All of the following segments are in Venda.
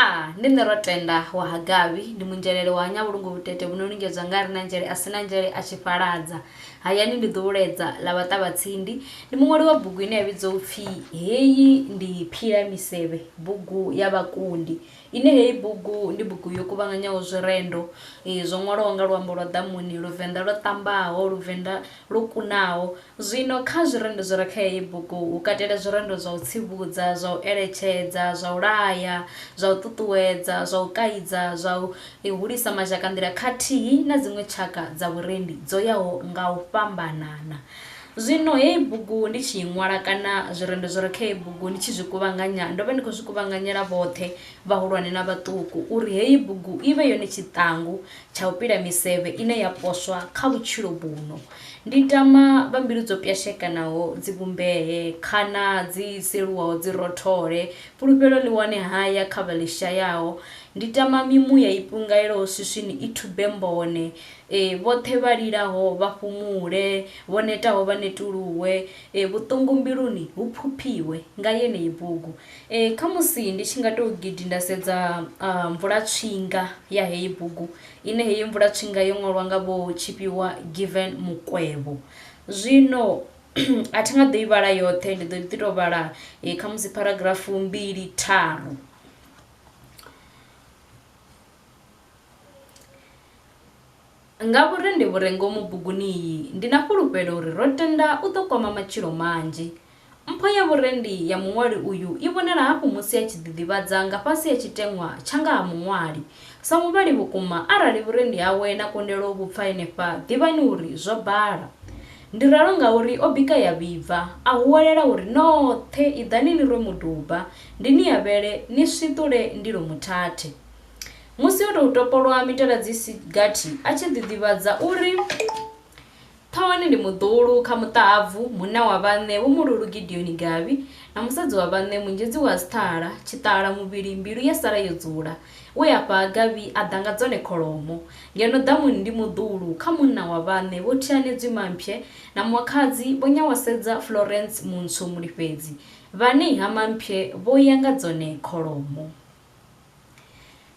a ndi nṋe ro tenda wa ha gavhi ndi munzhelele wa nyavhulungu vhutete vhu no lingedzwa nga ri na nzhele a si na nzhele a tshi fhaladza hayani ndi ḓuhuledza ḽa vhaṱavha tsindi ndi muṅwali wa bugu ine ya vhidzwa upfhi heyi ndi phila misevhe bugu ya vhakundi Ine heyi bugu ndi bugu yo kuvhanganyaho zwirendo zwo ṅwalwaho nga luambo lwa ḓamuni, Luvenḓa lwo ṱambaho, Luvenḓa lwo kunaho. Zwino kha zwirendo zwi re kha heyi bugu hu katela zwirendo zwa u tsivhudza, zwa u eletshedza, zwa u laya, zwa u ṱuṱuwedza, zwa u kaidza, zwa u hulisa mazhakanḓila khathihi na dziṅwe tshaka dza vhurendi dzo yaho nga u fhambanana. Zwino heyi bugu ndi tshi i ṅwala, kana zwirendo zwi re kha heyi bugu ndi tshi zwi kuvhanganya, ndo vha ndi khou zwi kuvhanganyela vhoṱhe, vhahulwane na vhaṱuku, uri heyi bugu i vhe yone tshiṱangu tsha u pila misevhe ine ya poswa kha vhutshilo vhuno. Ndi tama vha mbilu dzo pwashekanaho dzi vhumbee, khana dzi seluwaho dzi rothole, fhulufhelo ḽi wane haya kha vha ḽi shayaho. Ndi tama mimuya i pungaelaho swiswini i thube mbone, Ee, vhoṱhe vha lilaho vha fhumule, vho netaho vha netuluwe, ee, vhuṱungu mbiluni hu phuphiwe nga yeneyi bugu. Ee, khamusi ndi tshi nga tou gidi nda sedza mvulatswinga ya heyi bugu, ine heyi mvulatswinga yo ṅwalwa nga Vho Tshifhiwa Given Mukwevho. Zwino a thi nga ḓo i vhala yoṱhe, ndi ḓo ḓi tou vhala khamusi pharagrafu mbili tharu. Ngauri ndi vhu re ngomu buguni iyi, ndi na fhulufhelo uri ro tenda u ḓo kwama matshilo manzhi. Mpho ya vhurendi ya muṅwali uyu i vhonala hafhu musi a tshi ḓiḓivhadza nga fhasi ha tshiteṅwa tsha nga ha muṅwali. Sa muvhali vhukuma, arali vhurendi hawe na kundelo vhu pfa henefha, ḓivhani uri zwo bala. Ndi ralo ngauri o bika ya vhibva, a huwelela uri, Noṱhe iḓani ni rwe muduba, ndi ni avhele, ni swiṱule ndilo muthathe. Musi o tou topolwa mitala dzi si gathi a tshi ḓiḓivhadza u ri, Ṱhoni ndi muḓuhulu kha muṱahabvu, munna wa vhaṋe Vho Mululu Gideoni Gavhi na musadzi wa vhaṋe Munzhedzi wa Sṱhala, Tshiṱala muvhili mbilu ya sala yo dzula. We afha ha Gavhi a ḓa nga dzone kholomo. Ngeno ḓamuni ndi muḓuhulu kha munna wa vhaṋe Vho Thianedzwi Mamphye na Mwakhadzi Vho Nyawasedza Florence Muntswu Mulifhedzi, vhane ha Mamphye vho ya nga dzone kholomo.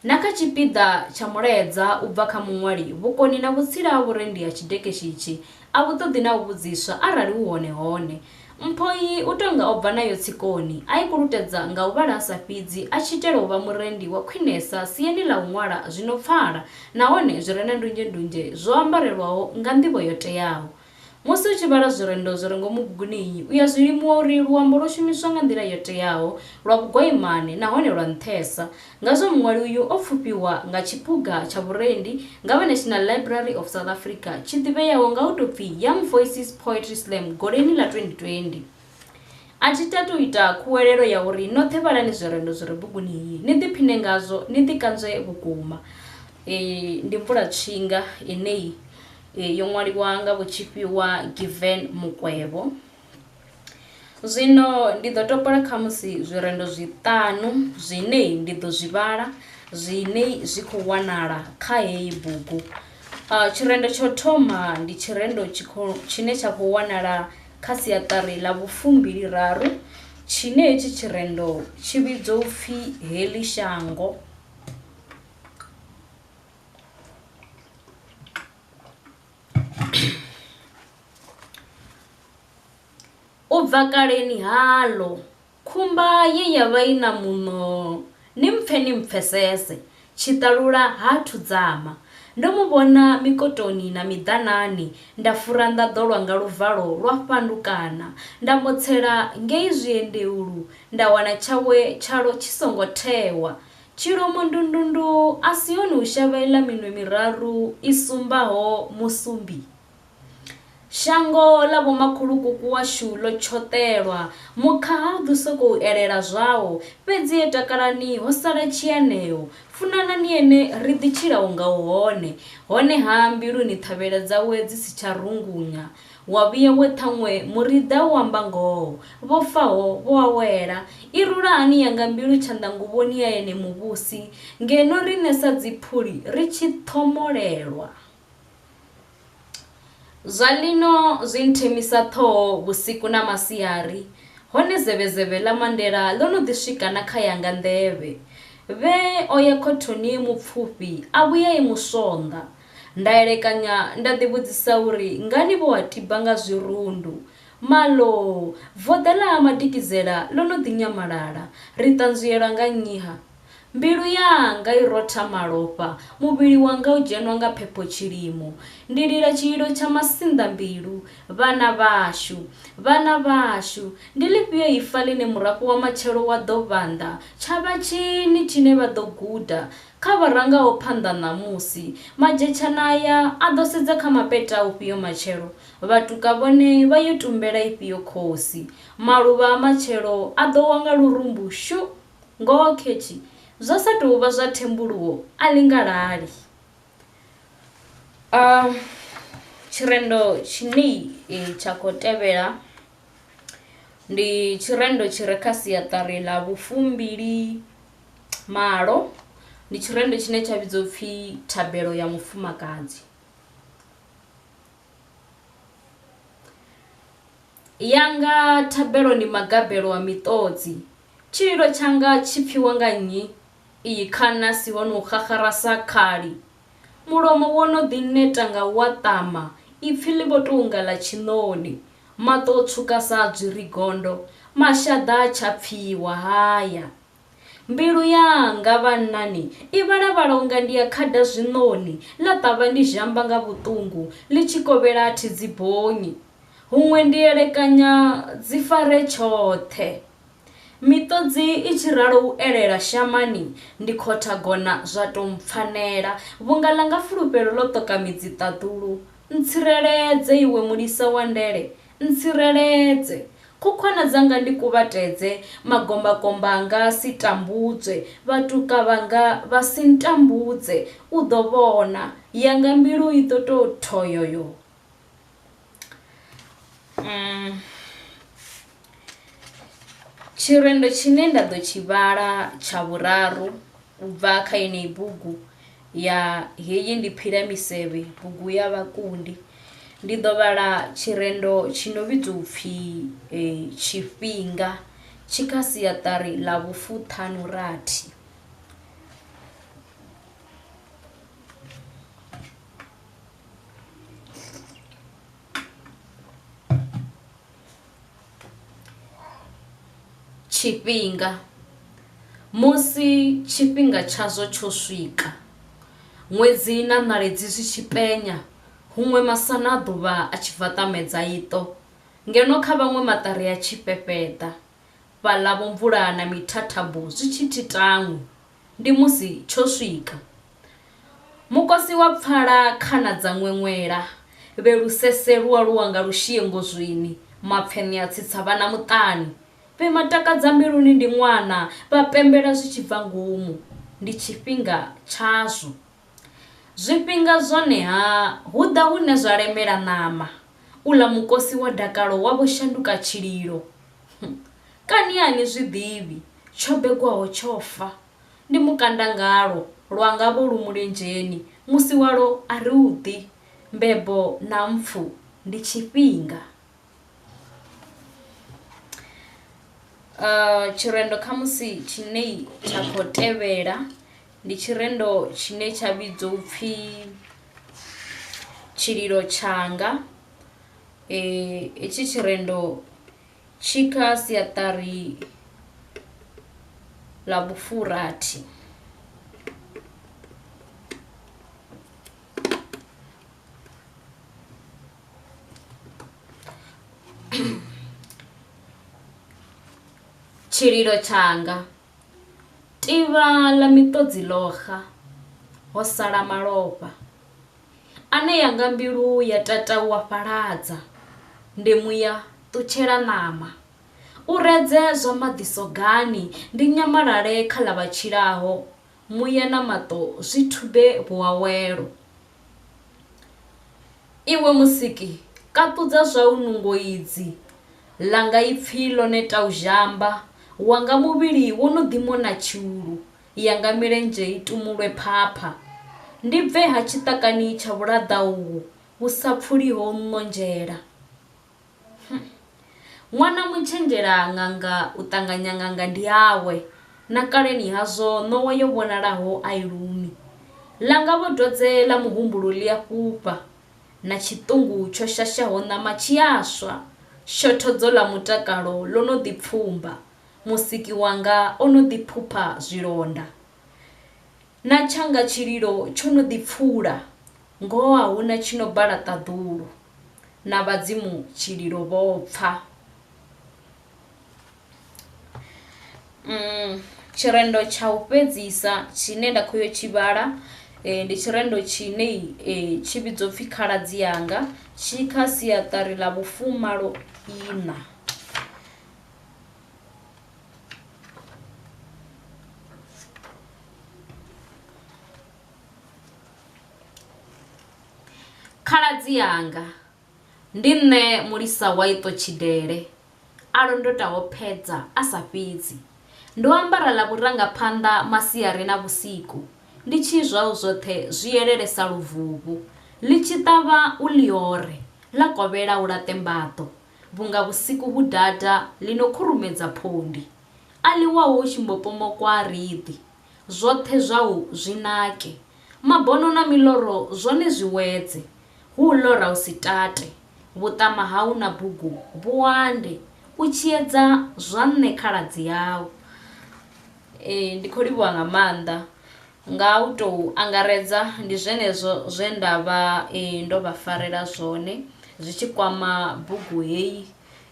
Na kha tshipiḓa tsha mulaedza u bva kha muṅwali, vhukoni na vhutsila ha vhurendi ha tshidekeshi itshi a vhu ṱoḓi na u vhudziswa arali hu hone hone. Mpho iyi u tou nga o bva nayo tsikoni, a i kulutedza nga u vhala a sa fhidzi a tshi itela u vha murendi wa khwinesa siani ḽa u ṅwala zwi no pfala nahone zwi re na ndunzhendunzhe zwo ambarelwaho nga nḓivho yo teaho. Musi u tshi vhala zwirendo zwi re ngomu buguni iyi, u ya zwi limuwa uri luambo lwo shumiswa nga nḓila yo teaho, lwa vhugwaimane nahone lwa nṱhesa. Ngazwo muṅwali uyu o pfufhiwa nga tshiphuga tsha vhurendi nga vha National Library of South Africa tshi ḓivheaho nga u tou pfi Young Voices Poetry Slam Goleni ḽa 2020. A thi tati u ita khuwelelo ya uri noṱhe vhalani zwirendo zwi re buguni iyi ni ḓiphine ngazwo ni ḓikanzwe vhukuma. Iyi ndi mvulatshinga ine yo ṅwaliwa nga vhotshifhiwa Given Mukwevho. Zwino ndi ḓo topola khamusi zwirendo zwiṱanu zwine ndi ḓo zwi vhala zwine zwi khou wanala kha heyi bugu. Tshirendo tsho thoma ndi tshirendo tshine tsha khou wanala kha siaṱari ḽa vhufumbili raru tshine hetshi tshirendo tshi vhidzwa upfhi heḽi shango. U bva kaleni haḽo, khumba ye ya vha i na muṋo, ni mpfe ni mpfesese, tshiṱalula ha thudzama. Ndo mu vhona mikotoni na miḓanani, nda fura nḓaḓo lwa nga luvalo lwa fhandukana, nda motsela ngei zwiendeulu, nda wana tshawe tshalo tshi songo thewa. Tshilomo ndundundu a si hone hu shavhelela minwe miraru i sumbaho musumbi. Shango ḽa vhomakhulukuku washu ḽo tshoṱelwa, mukhaha ha u ḓi sokou elela zwawo, fhedzi e takalani ho sala tshianeo, funanani ene ri ḓi tshila unga u hone, honeha mbiluni ṱhavhela dzawe dzi si tsha rungunya. Wa vhuya we ṱhaṅwe muriḓa u amba ngoho, Vho faho vho awela. I rula hani yanga mbilu tshanḓanguvhoni ya ene muvhusi, Ngeno riṋe sa dziphuli ri tshi ṱhomolelwa! Zwa lino zwi nthemisa ṱhoho vhusiku na masiari, Hone zevhezevhe ḽa Mandela ḽo no ḓi swika na kha yanga nḓevhe. Vhee o ya khothoni e mupfufhi, a vhuya e muswonḓa. Nda elekanya nda ḓivhudzisa uri ngani vho a tiba nga zwirundu. Maloo! Voḓa ḽa Ha Madikizela ḽo no ḓi nyamalala. Ri ṱanzwielwa nga nnyi-ha? Mbilu yanga i rotha malofha, muvhili wanga u dzhenwa nga phepho tshilimo. Ndi lila tshililo tsha masinḓambilu, Vhana vhashu! Vhana vhashu! Ndi ḽifhio ifa ḽine murafho wa matshelo wa ḓo vhanḓa? Tsha vha tshini tshine vha ḓo guda? Kha vha rangaho phanḓa ṋamusi, Madzhetshana aya a ḓo sedza kha mapeṱa a ufhio matshelo? Vhatuka vhone vha yo tumbela ifhio khosi? Maluvha a matshelo a ḓo wa nga lurumbu shu! Ngoho khethi, zwa sa tou vha zwa thembuluwo a ḽi nga lali. A Tshirendo tshinei tsha khou tevhela ndi tshirendo tshi re kha siaṱari ḽa vhufumbili. malo ndi tshirendo tshine tsha vhidzwa upfhi thabelo ya mufumakadzi ya nga thabelo ndi magabelo a miṱodzi tshililo tshanga tshi pfiwa nga nnyi iyi khana si ho no xaxara sa khali mulomo wo no ḓi neta nga wa ṱama ipfi ḽi vho tou nga ḽa tshiṋoni maṱo tswuka sa dzwiri gondo mashaḓa tsha pfiwa haya Mbilu yanga, vhannani, i vhalavhala unga ndi ya khada zwiṋoni, ḽa ṱavha ndi zhamba nga vhuṱungu, ḽi tshi kovhela a thi dzi bonyi. Huṅwe ndi elekanya dzi fare tshoṱhe. Miṱodzi i tshi ralo u elela shamani, ndi khotha gona zwa tou mpfanela, vhunga ḽanga fulufhelo ḽo ṱoka midzi ṱaḓulu. Ntsireledze, Iwe Mulisa wa ndele, Ntsireledze. Khukhwana dzanga ndi kuvhatedze, magombakomba anga a si tambudzwe, vhatuka vhanga vha si ntambudze. U ḓo vhona, yanga mbilu i ḓo tou thoyoyo. Um, tshirendo tshine nda ḓo tshi vhala tsha vhuraru u bva kha yeneyi bugu Ya heyi ndi phileamisevhe, bugu ya vhakundi. Ndi ḓo vhala tshirendo tshi no vhidzwa u pfi Tshifhinga tshi kha siaṱari ḽa vhufuṱhanurathi. Tshifhinga, Musi tshifhinga tshazwo tsho swika, ṅwedzi na ṋaledzi zwi tshi penya, huṅwe masana a ḓuvha a tshi bva ṱamedza iṱo, ngeno kha vhaṅwe maṱari a tshi fhefheḓa, fhaḽa vhomvula na mithathambo zwi tshi thi tanwi. ndi musi tsho swika. Mukosi wa pfala khana dza ṅweṅwela, vhe lusese lu aluwa nga lushie ngozwini, mapfeṋe a tsitsa vhana muṱani. Vhe matakadza mbiluni ndi ṅwana, vha pembela zwi tshi bva ngomu, ndi tshifhinga tshazwo. Zwifhinga zwone-ha, hu ḓa hune zwa lemela ṋama, uḽa mukosi wa dakalo wa vho shanduka tshililo. Kani a ni zwi ḓivhi, tsho begwaho tsho fa, ndi mukandangalo, lwa nga vho lu mulenzheni, musi walwo a ri u ḓi, mbebo na mpfu ndi tshifhinga. Tshirendo khamusi tshine tsha khou tevhela. Ndi tshirendo tshine tsha vhidzwa upfhi tshililo tshanga hetshi tshirendo tshi kha siaṱari ḽa vhufhurathi. Tshililo tshanga. Tivha ḽa miṱodzi ḽo xa, ho sala malofha. Ane ya nga mbilu ya tata u a fhaladza, ndi muya ṱutshela ṋama. U redze zwa maḓi sogani, ndi nyamalale kha ḽa vha tshilaho, muya na maṱo zwi thube vhuawelo. Iwe Musiki, kaṱudza zwau nungo idzi, ḽanga ipfi ḽo neta u zhamba, wanga muvhili wo no ḓi mona tshiulu, yanga milenzhe i tumulwe phapha. Ndi bve-ha tshiṱakani tsha vhulaḓa uhu vhu sa pfuliho nnonzhela? Ṅwana mutshenzhela ṅanga u ṱanganya ṅanga ndi yawe, na kaleni hazwo ṋowa yo vhonalaho a i lumi. Ḽanga vho dwadze ḽa muhumbulo ḽi a fhufha, na tshiṱungu tsho shashaho ṋama tshi a swa, shothodzo ḽa mutakalo ḽo no ḓi pfumba, Musiki wanga o no ḓi phupha zwilonda. Na tshanga tshililo tsho no ḓi pfula, ngoho a hu na tshi no bala ṱaḓulu, na vhadzimu tshililo vho pfa. Tshirendo tsha u fhedzisa tshine nda khou ya u tshi vhala ndi tshirendo tshine tshi vhidzwa u pfhi Khaladzi Anga, tshi kha siaṱari ḽa vhufumaloiṋa. khaladzi anga ndi nṋe mulisa wa iṱo tshidele a londotaho phedza a sa fhidzi ndo ambara ḽa vhurangaphanḓa masiari na vhusiku ndi tshi zwau zwoṱhe zwi elele sa luvuvhu ḽi tshi ṱavha u ḽiore ḽa kovhela u laṱe mbaḓo Vhunga vhusiku vhu data ḽi no khurumedza phondi, A ḽiwaho hu tshi mbo pomokwa riḓi, Zwoṱhe zwau zwi nake. Mabono na miloro zwone zwi wedze, Hu u lora hu si tate. Vhuṱama hau na bugu vhu ande, U tshiedza zwa nṋe khaladzi yau. Ee, ndi khou livhuwa nga maanḓa. Nga u tou angaredza, ndi zwenezwo zwe nda vha ndo vha farela zwone zwi tshi kwama bugu heyi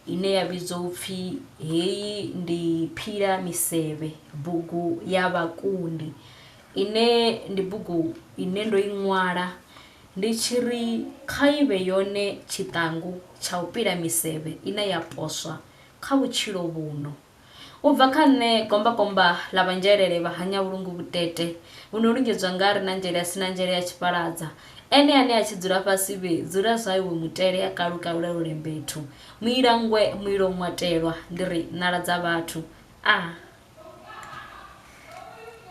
ine ya vhidzwa u pfi Heyi Ndi Phila Misevhe, Bugu Ya Vhakundi, ine ndi bugu ine ndo i ṅwala ndi tshi ri kha i vhe yone tshiṱangu tsha u pila misevhe ine ya poswa kha vhutshilo vhuno. U bva kha nṋe, gombakomba ḽa vhanzhelele vha hanya vhulungu vhutete vhu no lungedzwa nga a re na nzhele a si na nzhele ya tshiphaladza, ene ane a tshi dzula fhasi vhe, dzula zwa iwe mutele a kalukalule lule mbethu, muila nngwe muilo ṅwatelwa, ndi ri, ṋala dza vhathu. A.